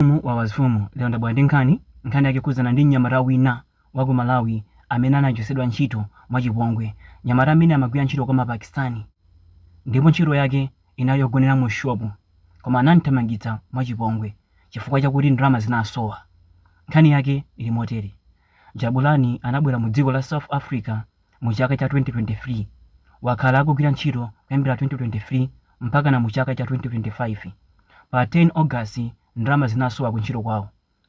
Mfumu wa mafumu lero ndabwera ndi nkhani, nkhani yake ikukhudzana ndi mnyamata wina wa ku Malawi amene anachotsedwa ntchito mwa chipongwe. Mnyamata ameneyi amagwira ntchito kwa ma Pakistani ndipo ntchito yake inali yogonera mu shop koma anam'thamangitsa mwa chipongwe chifukwa chakuti ndalama zinasowa. Nkhani yake ili motere, Jabulani anabwera mu dziko la South Africa. mu chaka cha 2023. Wakhala akugwira ntchito kuyambira 2023 mpakana mu chaka cha 2025. Pa 10 August ndalama zinasowa ku ntchito kwawo.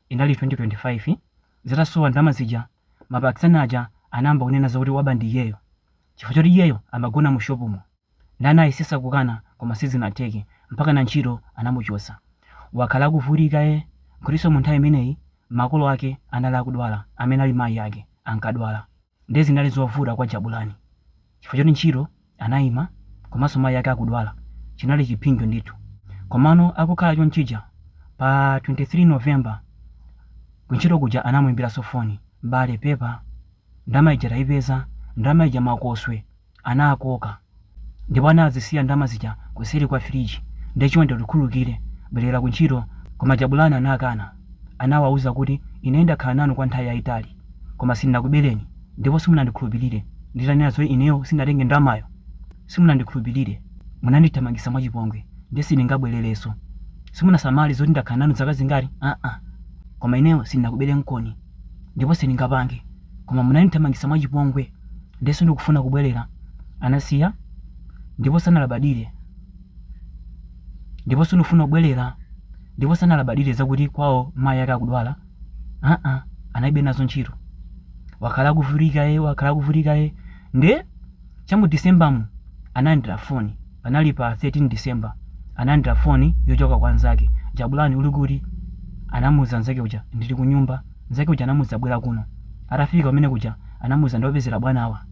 Inali 2025, zitasowa ndalama zija, ma Pakistani aja anayamba kunena za kuti waba ndi iyeyo chifukwa choti iyeyo amagona mu shop mo. Nde anayesesa kukana koma sizinatheke mpakana ntchito anamuchotsa. Wakhala akuvutika eh, n'kutinso mu nthawi imeneyi makolo ake anali akudwala amene ali mayi ake, ankadwala. Ndiye zinali zovuta kwa Jabulani chifukwa choti ntchito anaima komanso mayi ake akudwala. Chinali chipsinjo ndithu. Komano akukhala chonchija, pa 23 November kuntchito kuja anamuimbiranso foni. M'bale, pepa. Ndalama ija taipeza. Ndalama ija makoswe. anakoka ndipo anazisiya ndalama zija kuseri kwa fridge nde chonde utikhululukire bwelera ku ntchito koma jabulani anakana anawauza kuti ine ndakhala nanu kwa nthawi yayitali koma sindinakubeleni ndipo simunandikhulupilire nditanena zoti ineyo sindinatenge ndalamayo simunandikhulupilire munandithamangisa mwachipongwe nde sindingabwelerenso simunasamale zoti ndakhala nanu zaka zingati aa koma ineyo sindinakuberenikoni ndipo sindingapange koma munandithamangitsa mwachipongwe, ndiye sindikufuna kubwerera. Anasiya ndipo sanalabadire ndipo sindikufuna kubwerera ndipo sanalabadire zakuti kwawo mayi ake akudwala aa analibe nazo ntchito wakhala akuvutika ye wakhala akuvutika ye nde Cha mu Decembermu, analandira foni. Panali pa 13 December. Analandira foni yochoka kwa mnzake. Jabulani, uli kuti? anamuuza mnzake uja. Ndili kunyumba. Mnzake uja anamuuza, Bwera kuno. Atafika kumene kuja, anamuuza, Ndakupezera bwanawa.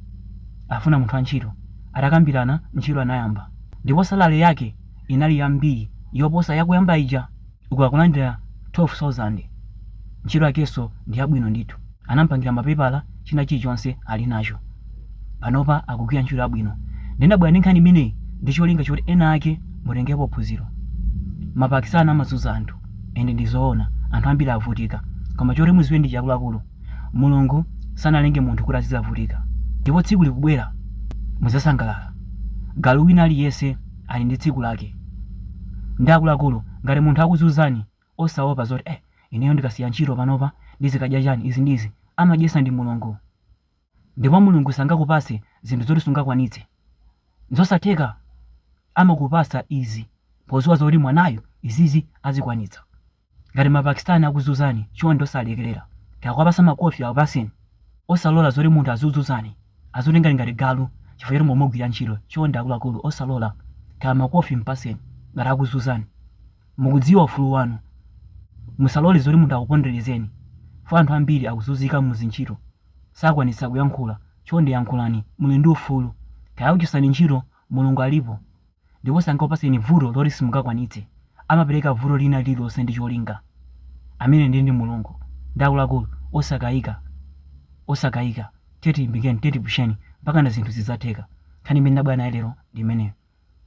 Afuna munthu wantchito. Atakambirana, ntchito anayamba. Ndipo salary yake inali yambiri yoposa yakuyamba ija. uku akulandira 12000 ntchito yakenso ndi yabwino ndithu anampangira mapepala china chilichonse alinacho panopa akugwira ntchito yabwino nde ndabwera ndi nkhani imeneyi ndi cholinga choti enaake mutengepo phunziro ma Pakistani amazuza anthu and ndizoona anthu ambiri avutika koma choti muziwe nchichi akuluakulu mulungu sanalenge munthu kuti azizavutika ndipo tsiku likubwera muzasangalala galu wina aliyese Ali ndi tsiku lake nde akuluakulu ngati munthu akuzuzani osaopa zoti eh ineyo ndikasiya ntchito panopa ndizikadya chani izi ndi izi amadyetsa ndi Mulungu ndipo Mulungu sangakupatse zinthu zoti sungakwanitse nzosatheka amakupatsa izi poziwa zoti mwanayu izizi azikwanitsa. Ngati ma Pakistani akuzuzani chonde osalekelera nkakwapasa makofi akapaseni osalora zoti munthu azikuzuzani azikutengani ngati galu chifukwa choti mukugwira ntchito chonde akuluakulu osalora kaya makofi mpaseni ngati akuzuzani mukudziwa ufulu wanu musalore zoti munthu akuponderezeni poti anthu ambiri akuzunzika muzintchito sakwanitsa kuyankhula chonde yankhulani muli ndi ufulu kaya akuchosani ntchito Mulungu alipo ndipo sangakupatseni vuto loti simungakwanitse. Amapereka vuto lina lililonse ndi cholinga. Ameneyo ndiye ndi Mulungu ndiye akuluakulu osakaika osakaika. Tiye tilimbikireni, tiye tipusheni mpakana zinthu zidzatheka. Nkhani imene ndabwera nayo lero ndi imeneyo.